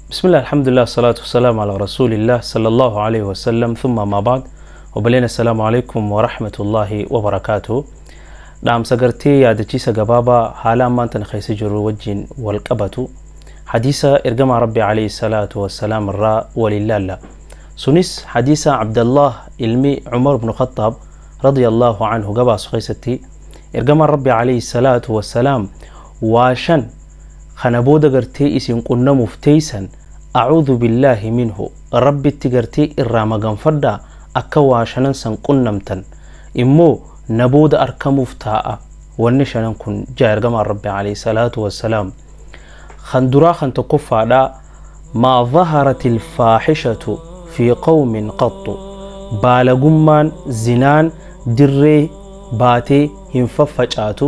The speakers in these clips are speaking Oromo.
Bismillah alhamdulillah salatu wassalam ala rasulillah sallallahu alaihi wasallam thumma ma ba'd obboleen assalamu alaikum wa rahmatullahi wa barakatuh dhaamsa gartee yaadachiisa gabaabaa haala ammaan tana keessa jirru wajjin wal qabatu hadiisa ergamaa rabbi alaihi salatu wassalaam irraa waliin laalla sunis hadiisa abdallah ilmi umar ibnu khattaab radiyallahu anhu gabaasu keessatti ergamaan rabbi alaihi salatu wassalaam waa shan kana booda gartee isin qunnamuf teeysan A'uudhu billaahi minhu Rabbitti gartee irraa maganfadhaa akka waa shanan san qunnamtan immoo na booda arkamuuf taa'a wanni shanan kun ja'a ergamaan Rabbi aleyhi salaatu wassalaam kan duraa kan tokkoffaadhaa maa zaharatil faahishatu fi qawmin qaxxu baalagummaan zinaan dirree baatee hin faffacaatu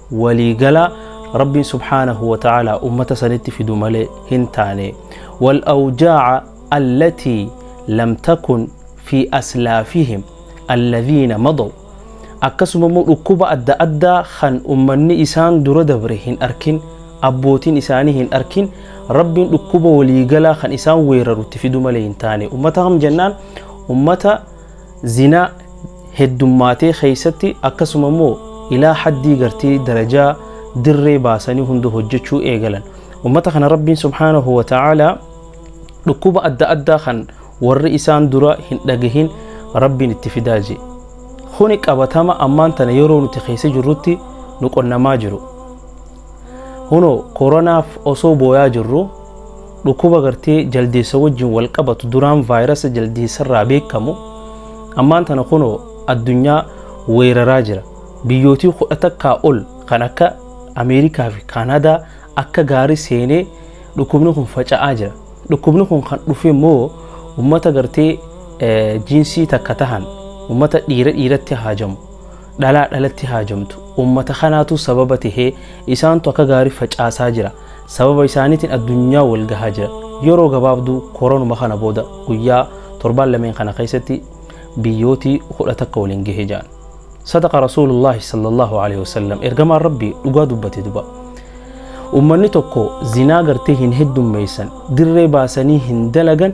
walii galaa Rabbiin subhaanahu wa ta'aalaa ummata sanitti fidu malee hin taane. Wal awjaa'a allatii lam takun fi aslaafihim alladhiina madaw. Akkasuma immoo dhukkuba adda addaa kan ummanni isaan dura dabre hin arkin, abbootiin isaanii hin arkin, Rabbiin dhukkuba walii galaa kan isaan weeraru itti fidu malee hin taane. Ummata kam jennaan ummata zinaa heddummaatee keessatti akkasuma immoo ilaa haddii gartee darajaa dirree baasanii hunda hojjechuu eegalan ummata kana rabbiin subhaanahu wa ta'aalaa dhukkuba adda addaa kan warri isaan dura hin dhagahin rabbiin itti fidaa jee kuni qabatama ammaan tana yeroo nuti keessa jirrutti nu qonnamaa jiru hunoo koronaaf osoo booyaa jirru Dhukkuba gartee jaldeessa wajjin wal qabatu duraan vaayirasa jaldeessarraa beekamu ammaan tana kunoo addunyaa weeraraa jira. Biyyootii kudha takkaa ol kan akka Ameerikaa fi Kaanaadaa akka gaarii seenee dhukkubni kun faca'aa jira. Dhukkubni kun kan dhufe immoo uummata gartee jiinsii takka tahan uummata dhiira dhiiratti haajamu. dhalaa dhalatti haajamtu ummata kanaatu sababa tahee isaantu akka gaarii facaasaa jira sababa isaaniitiin addunyaa wal gahaa jira yeroo gabaabduu koronuma kana booda guyyaa torbaan lameen kana keessatti biyyootii kudha takka waliin gahe ja'an sadaqa rasuulullaahi sallallahu alaihi wasallam ergamaan rabbii dhugaa dubbate duba ummanni tokko zinaa gartee hin heddummeessan dirree baasanii hin dalagan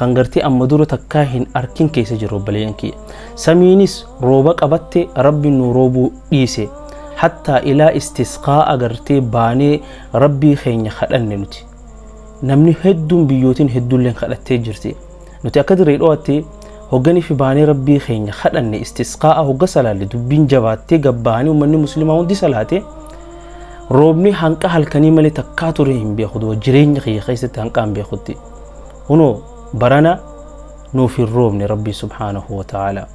kan gartee amma dura takkaa hin arkin keessa jiru obboleeyyan kiyya samiinis rooba qabatte rabbi nu roobuu dhiise hattaa ilaa istisqaa agartee baanee rabbii keenya kadhanne nuti namni hedduun biyyootiin hedduulleen kadhattee jirti nuti akka dirree dhoo'atti hogganiif baanee rabbii keenya kadhanne istisqaa'a hogga salaalle dubbiin jabaattee gabbaanii uummanni musliimaa hundi salaate roobni hanqa halkanii malee takkaa ture hin beeku jireenya kiyya keessatti hanqaa hin beekutti. Kunoo barana nuuf hin roobne Rabbiin subhaanahu wa ta'aalaa.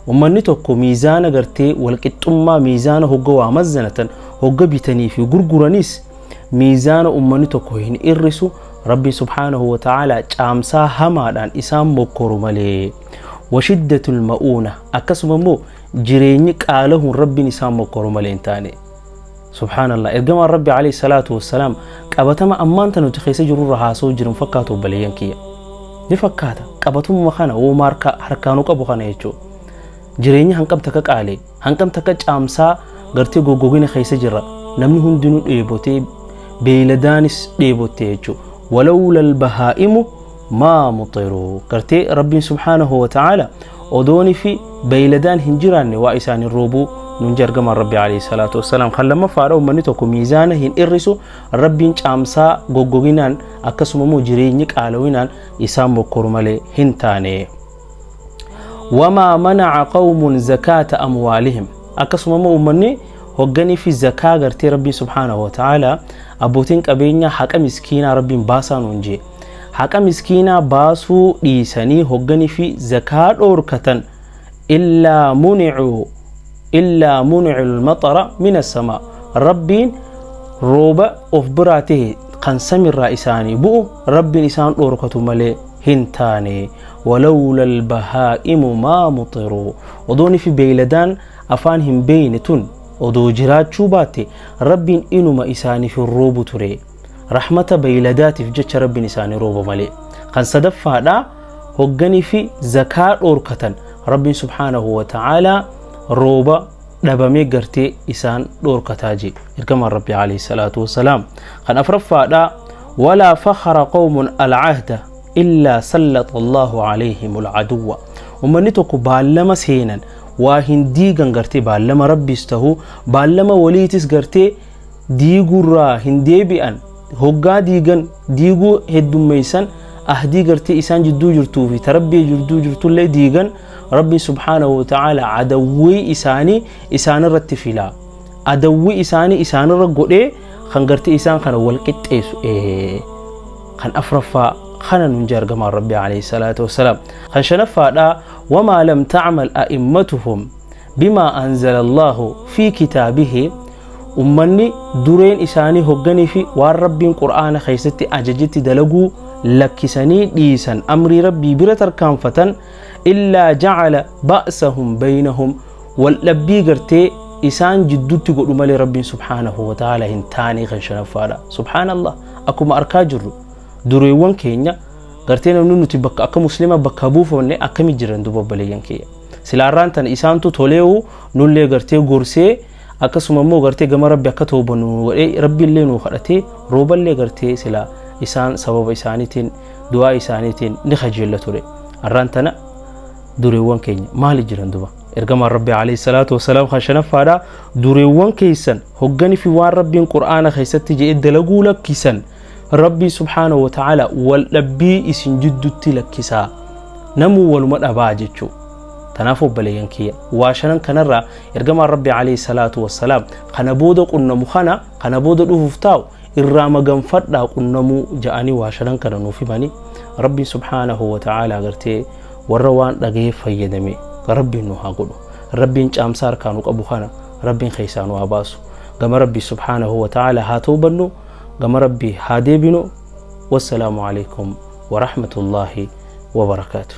Ummanni tokko miizaana gartee walqixxummaa miizaana hogga waa mazzanatan hogga bitanii fi gurguranis miizaana ummanni tokko hin irrisu Rabbiin subhaanahu wa ta'aalaa caamsaa hamaadhaan isaan mokkoru malee. Washiddatul ma'uuna akkasuma immoo jireenyi qaalahuun Rabbiin isaan mokkoru malee hin taane. Subhaanallah ergamaan Rabbi alayhi salaatu wassalaam qabatama ammaan tan nuti keessa jirru irra haasa'uu jiru hin fakkaatu obboleeyyan kiyya. Ni fakkaata qabatumma kana wooma harka harkaanu qabu kana jechuudha. Jireenya hanqam takka qaalee hanqam takka caamsaa gartee goggogina keessa jirra namni hundinuu dheebotee beeyladaanis dheebotte jechuudha. Walawlal bahaa'imu maa muxiru gartee rabbiin subhaanahu wa ta'aala odooni fi beeyladaan hin jiraanne waa isaan hin roobuu nun jargamaan rabbi alayhi salaatu wassalaam kan lammaffaadha ummanni tokko miizaana hin irrisu rabbiin caamsaa goggoginaan akkasuma immoo jireenyi qaalawinaan isaan mokkoru malee hin taane wamaa manaca qawmun zakaata amwaalihim akkasuma immoo ummanni hogganii fi zakaa gartee rabbiin subhaanahu wa ta'aala abbootiin qabeenyaa haqa miskiinaa rabbiin baasaa nuun jee haqa miskiinaa baasuu dhiisanii hogganii fi zakaa dhoorkatan illaa municuu illaa municu lmaxara min assamaa rabbiin rooba of biraa ta'e kan samirraa isaanii bu'u rabbiin isaan dhoorkatu malee hin taane walawla albahaa'imu maa muxiruu odooni fi beeyladaan afaan hin beeyne tun odoo jiraachuu baatte rabbiin inuma isaaniif hin roobu ture rahmata beeyladaatiif jecha rabbiin isaanii rooba malee kan sadaffaadha hogganii fi zakaa dhoorkatan rabbiin subhaanahu wa ta'aalaa rooba dhabamee gartee isaan dhoorkataa jee ergamaan rabbi alayhi salaatu wasalaam kan afraffaadha walaa fakhara qawmun alcahda illaa sallata allaahu alayhim alcaduwa ummanni tokko baallama seenan waa hin diigan gartee baallama rabbiis tahu baallama waliitis gartee diigurraa hin deebi'an hoggaa diigan diiguu heddummeeysan ahdii gartee isaan jidduu jirtuu fi ta rabbii jidduu jirtullee diigan rabbiin subhaanahu wa ta'aala adawwii isaanii isaanirratti filaa adawwii isaanii isaanirra godhee kan gartee isaan kana wal qixxeessu ee kan afraffaa kana nun jaargamaan rabbi alayhi salaatu wassalaam kan shanaffaadha wamaa lam ta'mal a'immatuhum bimaa anzala allaahu fi kitaabihi Ummanni dureen isaanii hogganii fi waan Rabbiin Qur'aana keessatti ajajetti dalaguu lakkisanii dhiisan amrii Rabbii bira tarkaanfatan illaa ja'ala ba'sahum baynahum waldhabbii gartee isaan jiddutti godhu malee Rabbiin subhaanahu wa ta'ala hin taane kan shanaffaadha. Subhaanallah akkuma arkaa jirru dureewwan keenya gartee namni nuti bakka akka muslima bakka buufamne akkami jiran duba obboleeyyan kiyya. Silaarraan tana isaantu toleewu nullee gartee gorsee akkasuma immoo gartee gama rabbi akka toobannu nu godhee rabbi illee nu kadhatee rooba illee gartee sila isaan sababa isaaniitiin du'aa isaaniitiin ni kajeella ture arraan tana dureewwan keenya maali jiran duba ergamaan rabbi alayhi salaatu wasalaam kan shanaffaadha dureewwan keessan hogganii fi waan rabbiin qur'aana keessatti jedhe dalaguu lakkisan rabbii subhaanahu wa ta'ala wal dhabbii isin jiddutti lakkisaa namuu waluma dhabaa jechuu Tanaaf obboleeyyan kiyya waa shanan kanarraa ergamaan Rabbi alayhi salaatu wassalaam kana booda qunnamu kana kana booda dhufuuf taa'u irraa maganfadhaa qunnamuu ja'anii waa shanan kana nuuf himanii Rabbiin subhaanahu wa ta'aala agartee warra waan dhaga'ee fayyadame Rabbiin nu haa godhu Rabbiin caamsaa harkaa nu qabu kana Rabbiin keessaa nu haa baasu gama Rabbii subhaanahu wa ta'aala haa toobannu gama Rabbii haa deebinu wassalaamu alaykum wa rahmatullaahi wa barakaatuh